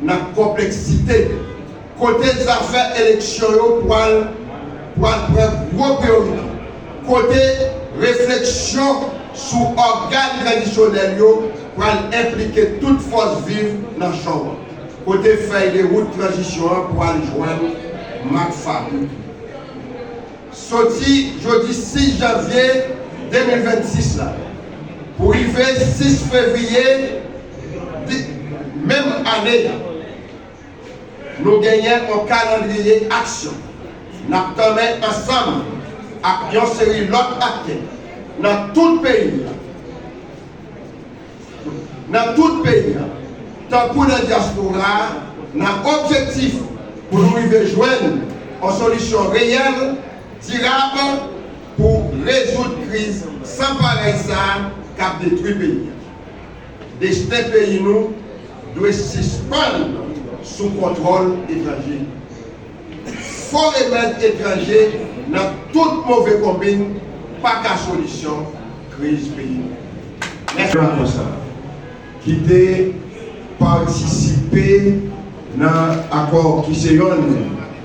nan konpleksite kote zafè eleksyon yo pwal pwal pran gwo priyorite, kote refleksyon sou ògàn tradisyonèl yo pwal enplike tout fòs viv nanchon an, kote fèy de wout tranzisyon an pwal jwenn mak fabrik li. Soti jodi 6 janvye 2026 la pou rive 6 fevriye. Menm ane a, nou genyen yon kalandriye aksyon n ap tanmen ansanm ak yon seri lòt aktè nan tout peyi a, nan tout peyi a tankou nan dyaspora a nan objektif pou nou rive jwenn yon solisyon reyèl, dirab pou rezoud kriz san parèy sa a k ap detwi peyi a. Desten peyi nou dwe sispann sou kontwòl etranje. Fo remèd etranje nan tout move konbinn pa ka solisyon kriz peyi nou. Mèsi. Nan rapò sa a, ki te patisipe nan akò ki se yonn.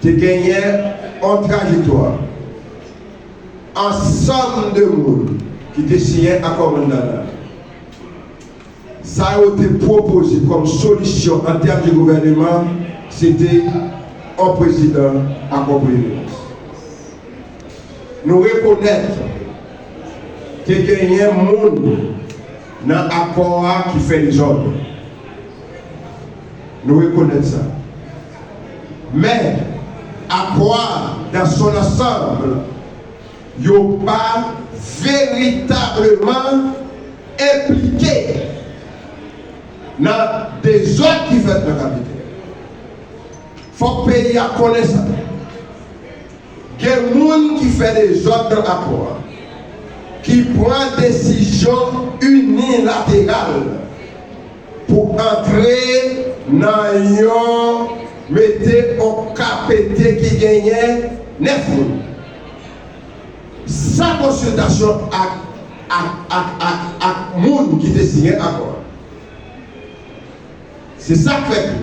Te genyen yon trajektwa ansanm de moun ki te siyen Akò Montana. Sa yo te pwopoze kòm solisyon an tèm de gouvèneman, se te yon prezidan ak yon premye minis. Nou rekonèt te genyen moun nan akò a ki fè dezòd. Nou rekonèt sa. Men, akò a dans son ansanble yo pa veritableman enplike nan dezòd ki fèt nan Kapitèl. Fòk peyi a konnen sa. Gen moun ki fè dezòd nan akò a, ki pran desizyon inilateral. pou antre nan yon mete on ka pete ki genyen 9 moun san konsiltasyon ak ak ak ak ak moun ki te siyen akò a. Se sa k fè tou,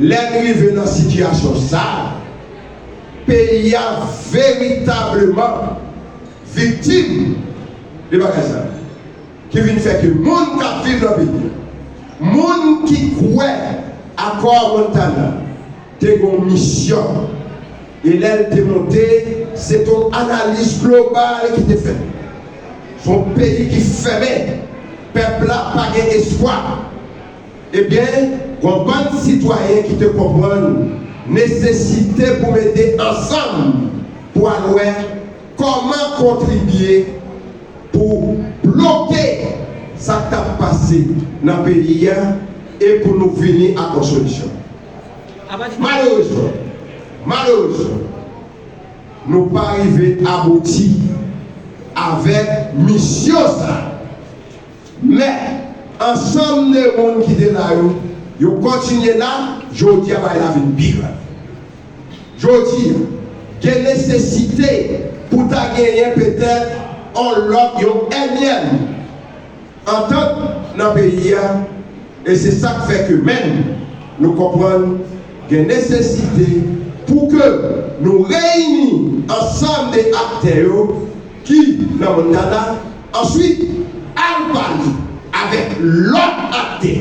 lè n rive nan sitiyasyon sa a, peyi a veritableman viktim de bagay sa. ki vin fè ke moun kap viv nan peyi a, moun ki kwè akò Montana te gon misyon e lèl te monte se t on analiz global ki te fèt. S on peyi ki fèmen, pèp la pa gen espwa. Ebyen gon bann sitwayen ki te konprann nesesite pou mete ansanm pou al wè, Kòman kontribye pou bloke sa k tap pase nan peyi a e pou nou vini ak yon solisyon. Malerezman, malerezman, nou pa rive abouti avèk misyon sa a. Men, ansanm de moun ki te la yo, yo kontinye la, jodi a bagay la vin pi grav. Jodi a, gen nesesite pou ta genyen petèt on lòt, yon ènyèm antant nan peyi a e se sa k fè ke menm nou konprann gen nesesite pou ke nou reyini ansanm de aktè yo ki nan Montana, Answit, al pale avèk lòt aktè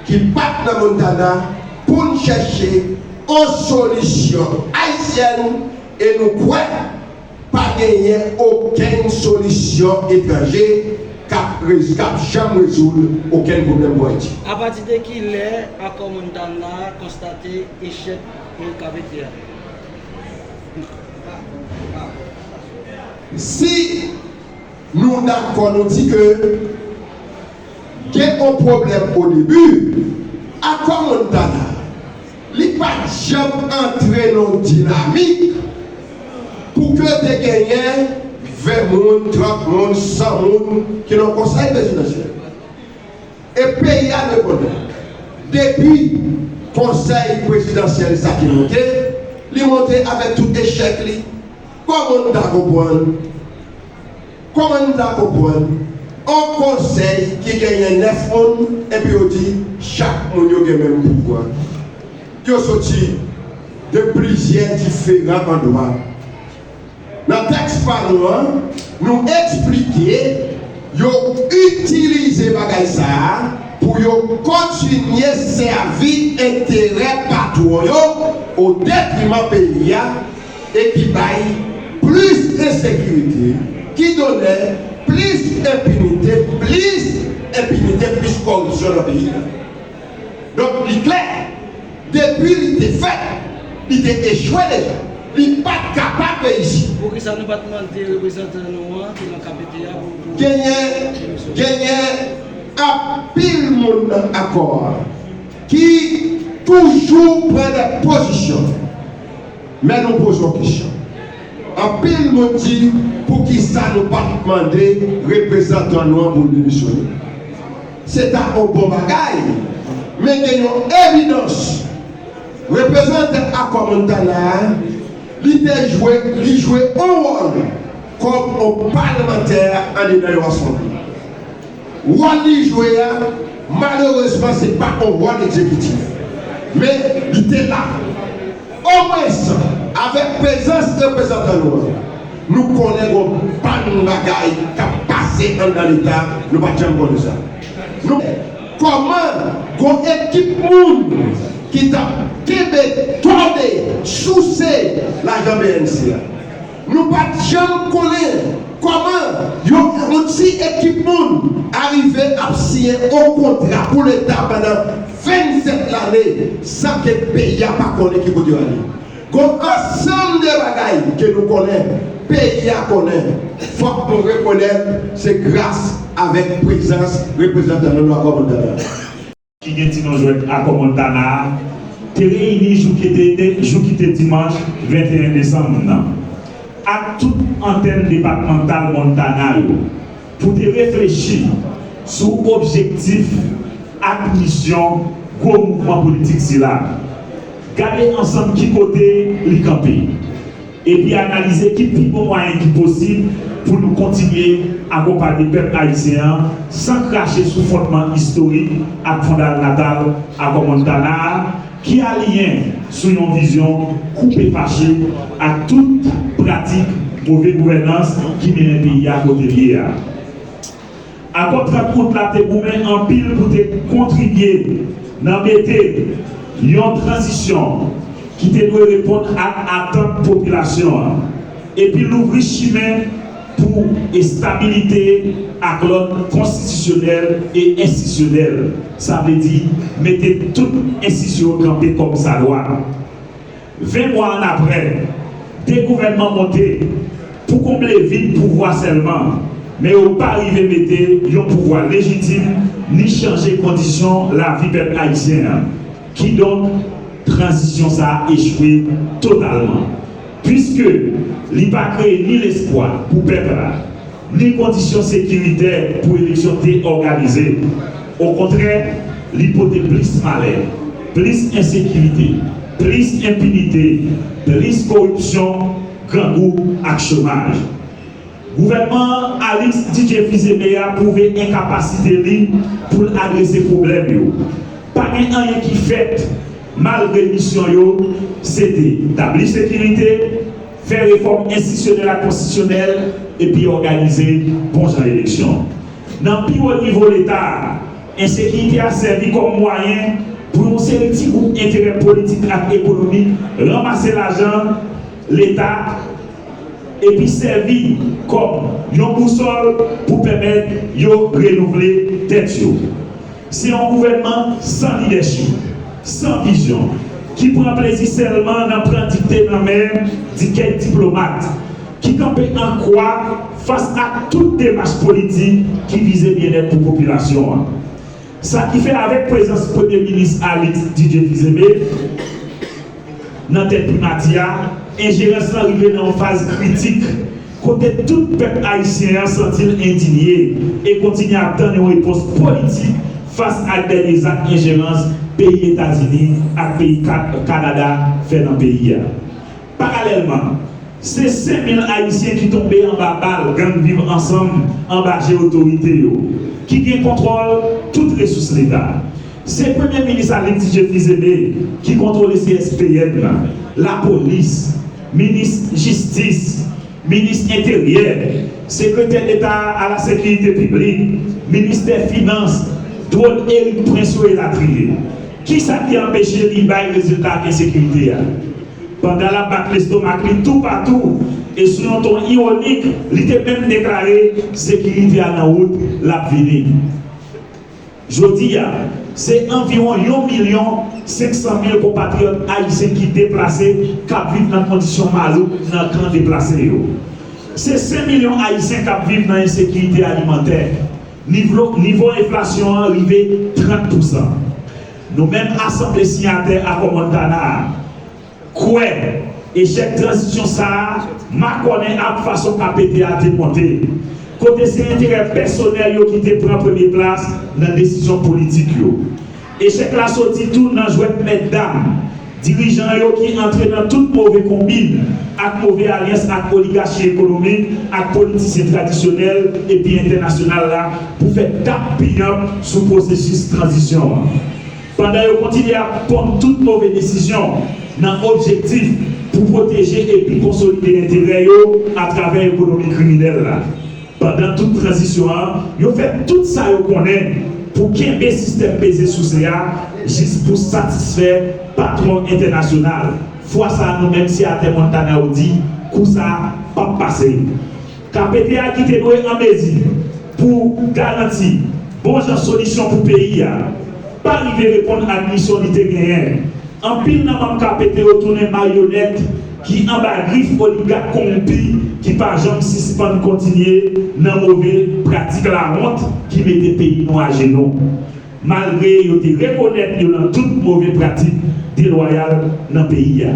ki pa t nan Montana pou n chèche on solisyon ayisyèn e nou kwè pa genyen okenn solisyon etranje k ap k ap janm rezoud okenn pwoblèm pou Ayiti. A pati de ki lè akò Montana a konstate echèk Hull Cavetey a? Si Nou dakò nou di ke gen on pwoblèm o debi, akò Montana li pa t janm antre nan on dinamik pou ke te genyen 20 moun, 30 moun, 100 moun ki nan konsèy prezidansyèl. E peyi a dwe konnen depi konsèy prezidansyèl sa te monte, li monte avèk tout echèk li. Kòman n ta konprann? Kòman n ta konprann on konsèy ki genyen nèf moun epi yo di chak moun yo gen menm pouvwa? Yo soti de plizyè diferan andwa. Nan tèks pa nou an, nou eksplike yo itilize bagay sa a pou yo kontinye sèvi enterè patwon yo odetriman peyi a, e ki bay plis ensekirite, ki donè plis enpinite, plis enpinite, plis kòripsyon nan peyi a. Donk li klè, depi li te fèt, li te echwe deja. Li pa t kapab reyisi. Poukisa nou pa t mande reprezantan nou an ki nan KPT a pou pou Genyen, demisyone? genyen anpil moun nan Akò a ki toujou pran dè pozisyon. Men nou poze yon kesyon. Anpil moun di poukisa nou pa t mande reprezantan nou an pou l demisyone. Se ta yon bon bagay, men gen yon evidans. Reprezantan Akwa Montana a, li te jwe, li jwe yon wòl kòm yon palmantè andedan yon asanble. Wòl li jwe a, malerezman se pa on wòl egzekitif. Men, li te la. Omwens, avèk prezans reprezantan nou an, nou konnen gon bann bagay k ap pase anndan Leta, nou pa t janm konnen sa. Nou wè kòman gon ekip moun ki t ap kenbe, tòde, souse lajan bnc a. Nou pa t janm konnen kòman yon ti ekip moun arive ap siyen yon kontra pou leta pandan 27 lane san ke peyi a pa konnen ki kote yo ale. Gon ansanm de bagay ke nou konnen, peyi a konnen, fòk nou rekonèt se gras avèk prezans reprezantan nou nan kòm entèndan. ki gen ti non jwèt Akò Montana a, te reyini jou ki te jou ki te dimanch 21 desanm nan ak tout antèn depatmantal Montana yo pou te reflechi sou objektif ak misyon gwo mouvman politik sila. Gade ansanm ki kote li kanpe. epi analize ki pi bon mwayen ki posib pou nou kontinye akonpanye pèp ayisyen an san krache sou fondman istorik ak fondalnatal Akò Montana a ki aliyen sou yon vizyon koupe fache ak tout pratik move gouvènans ki mennen peyi a kote l ye a. Akò 30 out la te goumen anpil pou te kontribye nan mete yon tranzisyon ki te dwe reponn ak atant popilasyon an epi louvri chimen pou estabilite ak lòd konstitisyonèl e enstisyonèl, sa vle di mete tout enstisyon kanpe kòmsadwa. 20 mwa annapre, 2 gouvènman monte pou konble vid pouvwa sèlman, men yo pa rive mete yon pouvwa lejitim ni chanje kondisyon lavi pèp ayisyen an. Kidonk, tranzisyon sa a echwe totalman, puiske li pa kreye ni lespwa pou pèp la, Ni kondisyon sekiritè pou eleksyon te òganize. Okontrè, li pote plis malè, plis ensekirite, plis enpinite, plis koripsyon, grangou ak chomaj. Gouvènman Alix DJ Fils-Aimé a pwouve enkapasite li pou l adrese pwoblèm yo. Pa gen anyen ki fèt malgre misyon yo se te tabli sekirite, fè refòm enstitisyonèl ak konstitisyonèl epi òganize bon jan eleksyon. Nan pi wo nivo Leta a, ensekirite a sèvi kòm mwayen pou yon seri ti gwoup enterè politik ak ekonomik ranmase lajan Leta epi sèvi kòm yon bousòl pou pèmèt yo renouvle tèt yo. Se yon gouvènman san lidèchip, san vizyon, ki pran plezi sèlman nan pran dikte nan men di kèk diplomat, ki kanpe an kwa fas ak tout demach politik ki vize byennèt pou popilasyon an. Sa ki fè avèk prezans Premye Minis Alix Didier Fils-Aimé, Nan tèt Primati a, enjerans lan rive nan yon faz kritik, kote tout pèp ayisyen an santi l endinye e kontinye ap tann yon repons politik fas ak dènye zak enjerans peyi Etazini ak peyi Kanada fè nan peyi a. Paralèlman, se 5 mil ayisyen ki tonbe anba bal gang Viv Ansanm anba je otorite yo, ki gen kontwòl tout resous Leta. Se premye minis Alix Didier Fils-Aimé ki kontwole CSPN nan, lapolis, minis jistis, minis enteryè, sekretè deta a la sekirite piblik, ministè finans, dwòn Erik Prince yo elatriye. Kisa ki anpeche li bay rezilta ak ensekirite a? Pandan l ap bat lestomak li toupatou e sou yon ton ironik li te menm deklare sekirite a nan wout, l ap vini. Jodi a, se anviwon yon milyon 500 mil konpatriyòt ayisyen ki deplase k ap viv nan kondisyon malouk nan kan deplase yo. Se 5 milyon ayisyen k ap viv nan ensekirite alimantè. Nivlo nivo enflasyon an rive 30 pousan. Nou menm asanble siyatè Akò Montana a, Kwè, echèk tranzisyon sa a makònen ak fason KPT a te monte, kote se enterè pèsonèl yo ki te pran premye plas nan desizyon politik yo. Echèk la soti tou nan jwèt mètdam dirijan yo ki antre nan tout move konbin ak move alyans ak oligachi ekonomik ak politisyen tradisyonèl epi entènasyonal la pou fè tap piyanp sou pwosesis tranzisyon an. pandan yo kontinye ap ponn tout move desizyon nan objektif pou pwoteje epi konsolide enterè yo atravè ekonomi kriminèl la. Pandan tout tranzisyon an, yo fè tout sa yo konnen pou kenbe sistèm peze souse a jis pou satisfè patwon entènasyonal. Fwa sa a nou menm siyatè Montana ou di kou sa pap pase. Kpt a ki te dwe an mezi pou garanti bon jan solisyon pou peyi a, pa rive reponn ak misyon li te genyen. Anpil nan manm kpt yo tounen maryonèt ki anba grif oligak konwonpi ki pa janm sispann kontinye nan move pratik lawont ki mete peyi nou ajenou, malgre yo te rekonèt yo nan tout move pratik delwayal nan peyi a.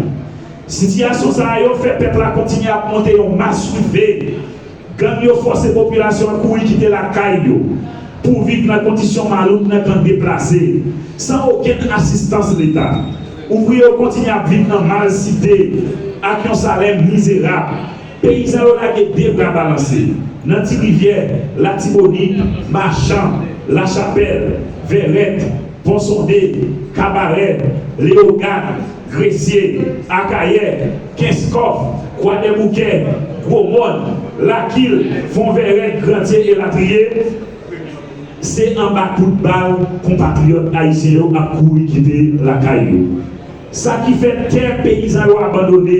Sitiyasyon sa a yo fè pèp la kontinye ap monte yon masoulve. Gang yo fòse popilasyon an kouri kite lakay yo pou viv nan kondisyon malouk nan kan deplase, san okenn asistans Leta. Ouvriye yo kontinye ap viv nan malsite ak yon salè mizerab. Peyizan yo lage de bra balanse nan Ti Rivyè, Latibonit, Machan, Lachapèl, Vèrèt, Pon Sonde, Kabarè, Leyogàn, Gresye, Akayè, Kenskòf, Kwadèboukè, Gwomòn, Lakil, Fonvèrèt, Grandye elatriye, se anba kout bal konpatriyòt ayisyen yo ap kouri kite lakay yo. Sa ki fè tè peyizan yo abandone,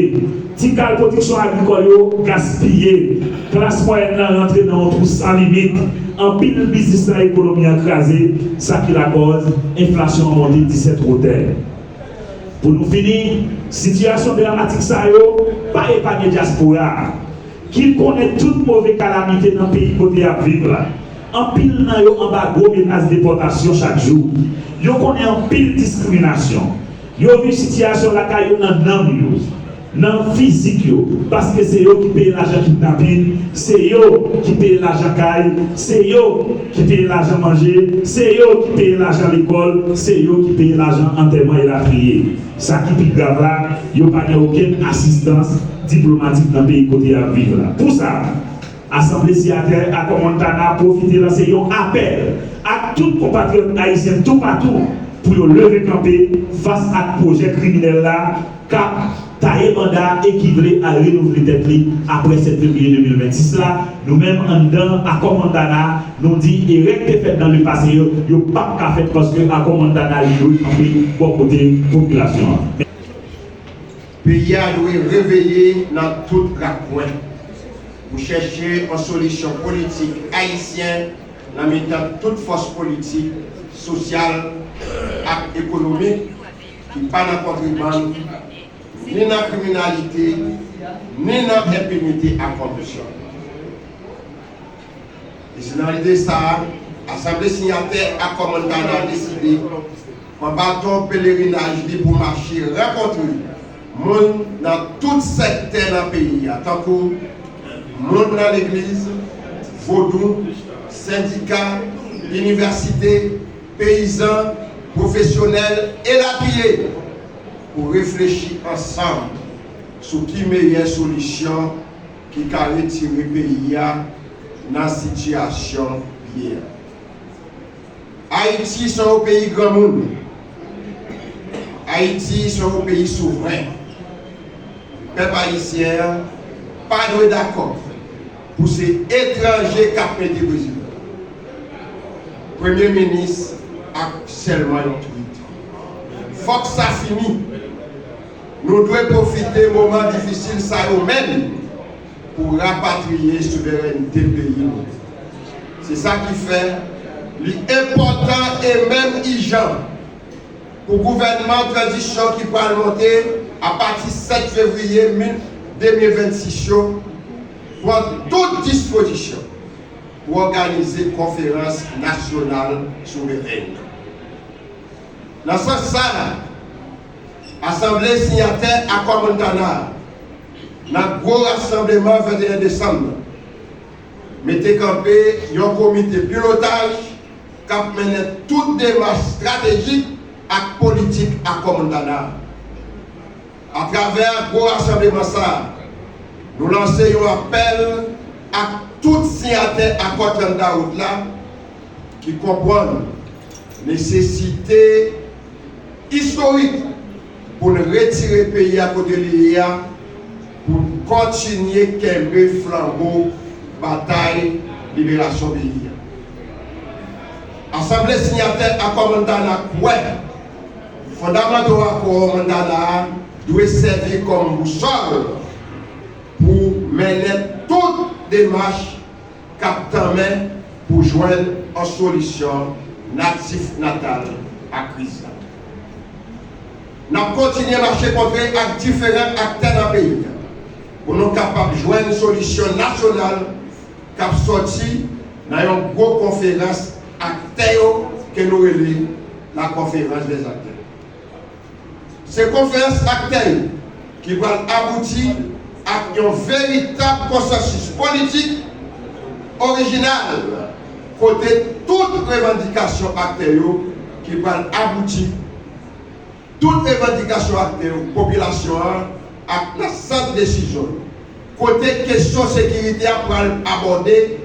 ti kal pwodiksyon agrikòl yo gaspiye, klas mwayèn lan rantre nan yon twou san limit, anpil biznis nan ekonomi an kraze, sa ki lakòz enflasyon an monte disèt wotè. Pou nou fini, sitiyasyon dramatik sa yo pa epanye dyaspora a, ki konnen tout move kalamite nan peyi kote y ap viv la. Anpil nan yo anba gwo menas depòtasyon chak jou. Yo konnen anpil diskriminasyon. Yo viv sitiyasyon lakay yo nan nanm yo. Nan fizik yo paske se yo ki peye lajan kidnapin se yo ki peye lajan kay se yo ki peye lajan manje se yo ki peye lajan lekòl se yo ki peye lajan antèman elatriye sa ki pi grav la yo pa gen okenn asistans diplomatik nan peyi kote yap viv la pou sa. Asanble Siyatè Akò Montana pwofite lanse yon apèl ak tout konpatriyòt ayisyen toupatou pou yo leve kanpe fas ak pwojè kriminèl la k ap taye banda e ki vle al renouvle tèt li apre 7 fevriye 2026 la. Nou menm anndan Akò Montana, nou di erè k te fèt nan lepase yo, yo p ap ka fèt paske Akò Montana li dwe kanpe bò kote popilasyon an. Peyi a dwe reveye nan tout rakwen pou chèche yon solisyon politik ayisyen nan mitan tout fòs politik, sosyal ak ekonomik ki pa nan kontrebann, ni nan kriminalite, ni nan enpinite ak koripsyon. E se nan lide sa a, asanble siyatè Akò Montana deside pran baton pelerinaj li pou mache rankontre moun nan tout sektè nan peyi a tankou, moun nan legliz, vodou, sendika, inivèsite, peyizan, pwofesyonèl, elatriye, pou reflechi ansanm sou ki meyè solisyon. ki ka retire peyi a nan sitiyasyon l ye a. Ayiti se yon peyi granmoun. Ayiti se yon peyi souvren. Pèp ayisyen an pa dwe dakò pou se etranje k ap mete prezidan. Premye minis ak sèlman yon twit. Fòk sa fini. Nou dwe pwofite moman difisil sa yo menm pou rapatriye souverènte peyi nou. Se sa ki fè li enpòtan e menm ijan pou gouvènman tranzisyon ki pral monte apati 7 fevriye 2026 yo pran tout dispozisyon pou òganize konferans nasyonal souveren nan. Nan sans sa a, Asanble siyatè Akò Montana a nan gwo rasanbleman 21 desanm nan mete kanpe yon komite pilotaj k ap mennen tout demach estratejik ak politik Akò Montana a. Atravè gwo rasanbleman sa a, nou lanse yon apèl ak tout siyatè Akò 30 dawout la ki konprann nesesite istorik pou n retire peyi a kote li ye a pou n kontinye kenbe flanbo batay liberasyon peyi a. Asanble Sinyatè Akò Montana kwè fondamanto Akò Montana a dwe sèvi kòm bousòl pou mennen tout demach, k ap tanmen pou jwenn on solisyon natif natal a kriz la. N ap kontinye mache kontre ak diferan aktè nan peyi a pou nou kapab jwenn solisyon nasyonal k ap sòti nan yon gwo konferans aktè yo ke nou rele La Conférence des Acteurs. Se konferans aktè yo ki pral abouti ak yon veritab konsansis politik orijinal kote tout revandikasyon aktè yo ki pral abouti tout revandikasyon aktè yo popilasyon an ak nan sant desizyon yo kote kesyon sekirite a pral abòde